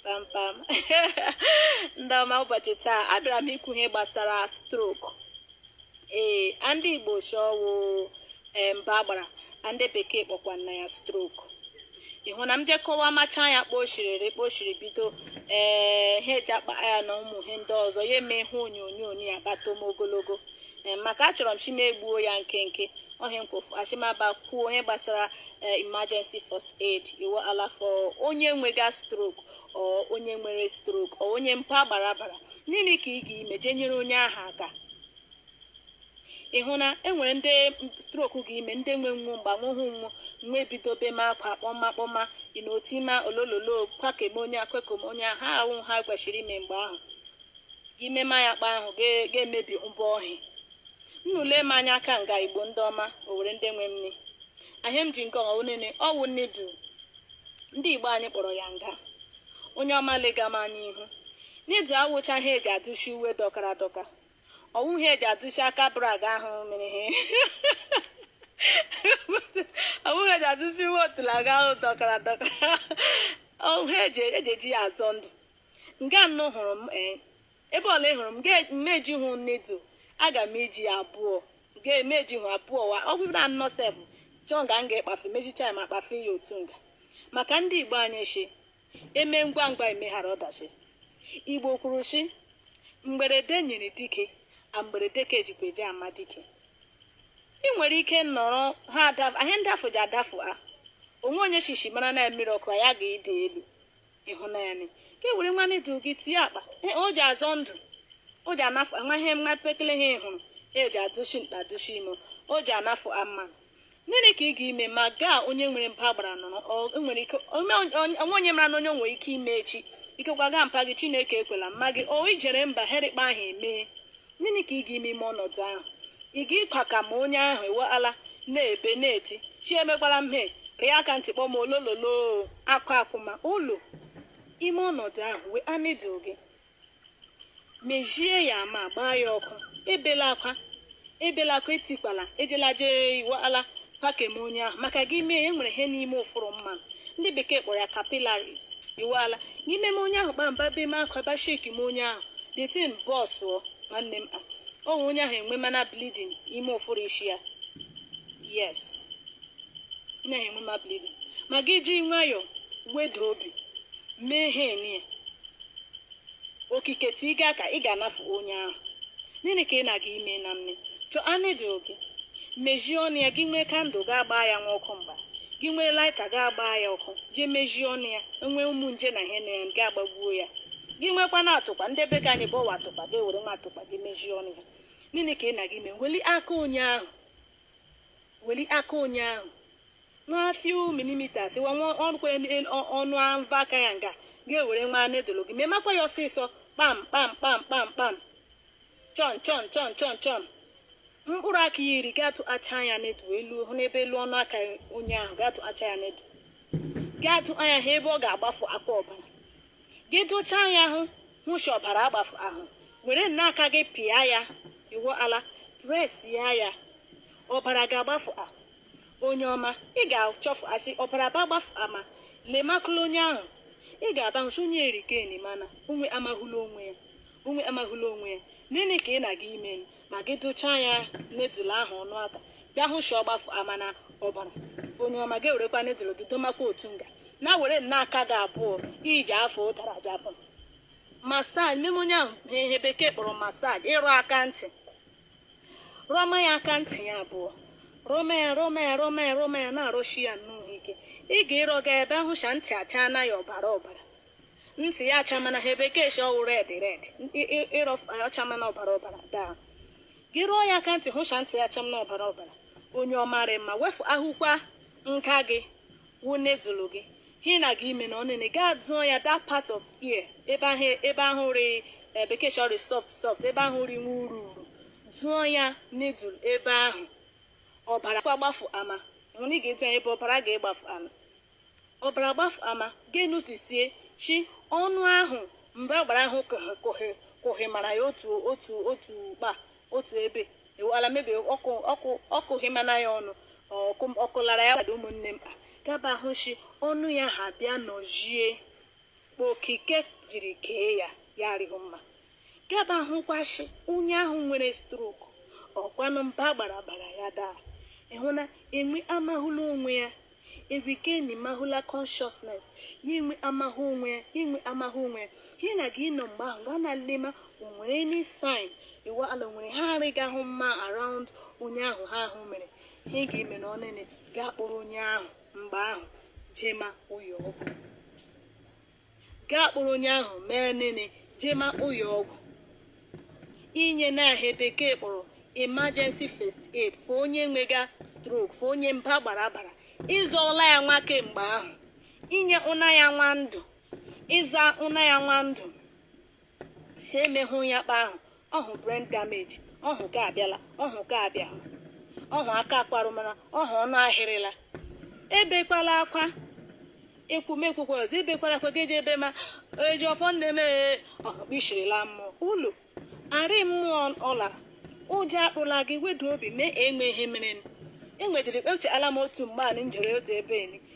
kpamkpam ndị ọma ụbọchị taa abịara m ikwu ihe gbasara stroke ee ndị igbo shi ọwụ mba agbara ndị bekee kpọkwana ya stroke ịhụ na m je kọwa macha ya kposhiriri kposhiri bido he ji akpa ya na ụmụ ihe ndị ọzọ ya eme ihe onyonyo ya bata m ogologo maka achọrọ m shi m egbuo ya nkenke ọ he mkpofu shi m bịa kwuo ihe gbasara eh, emergency first aid iwala for onye nwega stroke ọ onye nwere stroke ọ onye mba agbara bara nịnị ka ị ga-ime jee nyere onye ahụ aka ị hụ na enwere ndị stroke ga-ime ndị nwe nwu mgbanwe hụ nwu nwa ebido bema akwa kpọma kpọma ịno tima olololo kwakama onye akwekom onye ha awụ ha kweshịrị ime mgbe ahụ gị mema ya kpa ahụ ga-emebi mbọ ọhịa Nnụ lee m anya aka nga Igbo ndị ọma Owere ndị nwe m ihe a m ji nke ọha onene ọwụ needle ndị Igbo anyị kpọrọ ya nga onye ọma lega m anya ihu needle awụcha ha eji adụshi uwe dọkara adọka ọwụ ha eji adụshi aka bra gị ahụ mere ihe ọwụ ha eji adụshi uwe otula gị ahụ dọkara adọka ọwụ ha eji eji ya azọ ndụ nga nnụ hụrụ m ee ebe ọla ị hụrụ m ga m ejihụ needle aga m eji abụọ ga m ejihụ abụọ wa ọ bụrụ na anọ sef chọọ nga m ga-ekpafe mechicha ya ma kpafe ya otu nga maka ndị igbo anyị shi eme ngwa ngwa emeghara ọdachi igbo kwuru shi mgberede nyiri dike a mgberede ka ejikwa eji ama dike ị nwere ike nọrọ he adafụ ihe ndị afọ ji adafụ ha o nwe onye shi ishi mara na mmiri ọkụ ya ga-ịdị elu ịhụnanị ka e were nwa needle gị tie akpa e, o ji azọ ndụ o ji anafụ ama ihe nwa pekele a ị hụrụ e ji adụshi nta adụshi imo o ji anafụ ama nịnị ka ị ga-ime ma gaa onye nwere mba agbara nọrọ ọ- e nwere ike ome onye- o nwe onye mara na onye nwere ike ime echi ikekwa gaa mpa gị chineke ekwela mma gị o ijere mba he rị kpa ahụ emee nịnị ka ị ga ime ime ọnọdụ ahụ ị ga ịkwakama onye ahụ iwaala na-ebe na-eti chi emekwala m he rị aka ntị kpọma olololo akwa akwụma ụlọ ime ọnọdụ ahụ wee needle gị mejie ya ma gbaa ya ọkụ ebela akwa ebela akwa etikwala ejela jee iwaala maka eme onye ahụ maka gị mee ya enwere ihe n'ime ụfụrụ mmadụ ndị bekee kpọrọ ya capillaries iwala n'ime m onye ahụ kpamba bema akwa ba shekima onye ahụ the thing burst ọ nwanne m onwe onye ahụ enwema na bleeding ime ụfụrụ isi ya yes onye ahụ enwema bleeding ma gị ji nwayọọ weda obi mee ihe niile okike tiga ka ị ga-anafu onye ahụ nene ka ị na-aga ime na mme chọọ needle gị mejie ọnụ ya gị nwee candle ga-agba ya nwa ọkụ mgba gị nwee lighter ga-agba ya ọkụ jee mejie ọnụ ya enwee ụmụ nje na ihe na ya ga agbagbuo ya gị nwekwa na atụkpa ndị be ka anyị bụ ọwa atụkpa gị ewere nwa atụkpa gị mejie ọnụ ya nene ka ị na-aga ime weli aka onye ahụ weli aka onye ahụ nwa few millimeters wa nwa ọnụkwa ọnụ ava aka ya nga gị ewere nwa needle gị memakwa ya ọsịsọ kpam kpam kpam kpam kpam chọn chọn chọn chọn chọn mkpụrụ aka ya iri gị atụchaa ya needle ahụ n'ebe elu ọnụ aka onye ahụ gị atụchaa ya needle gị atụ anya ha ebe ọ ga-agbafuakwa ọbara gị dụchaa ya ahụ hụ shi ọbara agbafu ahụ were nna aka gị pịa ya iwu ala press ya ya ọbara ga-agbafu ahụ onye ọma ị ga-achọfua sị ọbara ba agbafu ama lemakụla onye ahụ ị ga-aba hụ shi onye e regain mana onwe amahụla onwe ya onwe amahụla onwe ya nene ka ị na-aga ime ma gị dụchaa ya needle ahụ ọnụ aka bịa hụ shi ọ gbafuamana ọbara onye ọma gị ewerekwa needle gị domakwa otu nga na were nna aka gị abụọ iji afọ ụtara gị abụọ massage meme onye ahụ ihe bekee kpọrọ massage ịrọ aka ntị rọma ya aka ntị ya abụọ rọma ya rọma ya rọma ya rọma ya na-arọshi ya nnọọ ike ị ga-ịrọga bịa hụ shi ntị achana ya ọbara ọbara ntị ya achamana ha bekee si ọ wụ red red ịrọ ọ chamana ọbara ọbara daa gị rọọ ya aka ntị hụ shi ntị ya achamana ọbara ọbara onye ọma rị mma wefu ahụkwa nka gị wụ needle gị hi na gị ime na ọnene gaa dụọ ya that part of ear ebe ahụ ebe ahụ rị eh, bekee si ọ rị soft soft ebe ahụ rị nwa uru uru dụọ ya needle ebe ahụ ọbara kwa gbafu ama hụ na ị ga-adụ ya ebe ọbara ga-egbafu ama Ọbara gbafụ ama, gị e-notice shi, ọnụ ahụ mgbe agbara ahụ kụhị kụhị kụhịmara ya otu otu otu kpa otu ebe iwu ala mebie ọ kụ ọ kụ ọ kụhịmana ya ọnụ ọ kụ ọ kụlara ya gbado ụmụnne m ga-aba hụ shi ọnụ ya ha bịa nọjie okike jiri kee ya ya arịghị mma ga-aba hụkwa shi onye ahụ nwere stroke ọkwanụ mba gbara bara ya daa ịhụ na enwe amahụla onwe ya e regain mahụla consciousness ya enwe amahụ onwe ya inwe amahụ onwe ya ihe na gị nọ mgbe ahụ gaa na lema o nwere any sign iwu ala o nwere ha arịghị ahụ mma around onye ahụ ha ahụ mere ihe ị ga-eme na ọnene gaa kpọrọ onye ahụ mgbe ahụ jema ụyọ ọgwụ gaa kpụrụ onye ahụ mee nene jee makpụ ya ọgwụ inye na ihe bekee kpọrọ emergency first aid fụ onye nwega stroke fụ onye mba gbara agbara ịzọọla ya nwa kemgbe ahụ inye ụna ya nwa ndụ ịza ụna ya nwa ndụ si emehụ ya kpa ahụ ọhụ brain damage ọhụ ga-abịala ọhụ ga-abịa ọhụ aka akparụmana ọhụ ọnụ ahịrịla ebekwala akwa ekwu m ekwukwa ọzọ ebekwala akwa geje ebe ma eji ọfọ nne m ee, ọhụ kpishirila mmụọ ụlọ arị mmụọ ọ lara ụjọ akpụla gị wedu obi mee enwe ihe mere enwedịrị ekpechara m otu mgbe anị njere otu ebe eni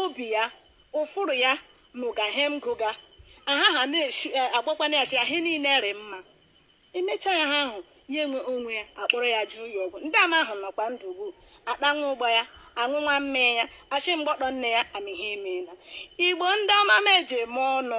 obi ya ụfụrụ ya nụga he m gụga aha ha na-esi agwakwana ya sị ihe niile rị mma emechaa ya ha ahụ ya enwe onwe ya akpọrọ ya jụọ ya ọgwụ ndị ama ahụ nọkwa ndụ ugbu a kpa nwa ụgba ya aṅụ nwa mmee ya achị mgbọtọ nne ya amịhe emeela igbo ndị ọma m ji eme ọnụ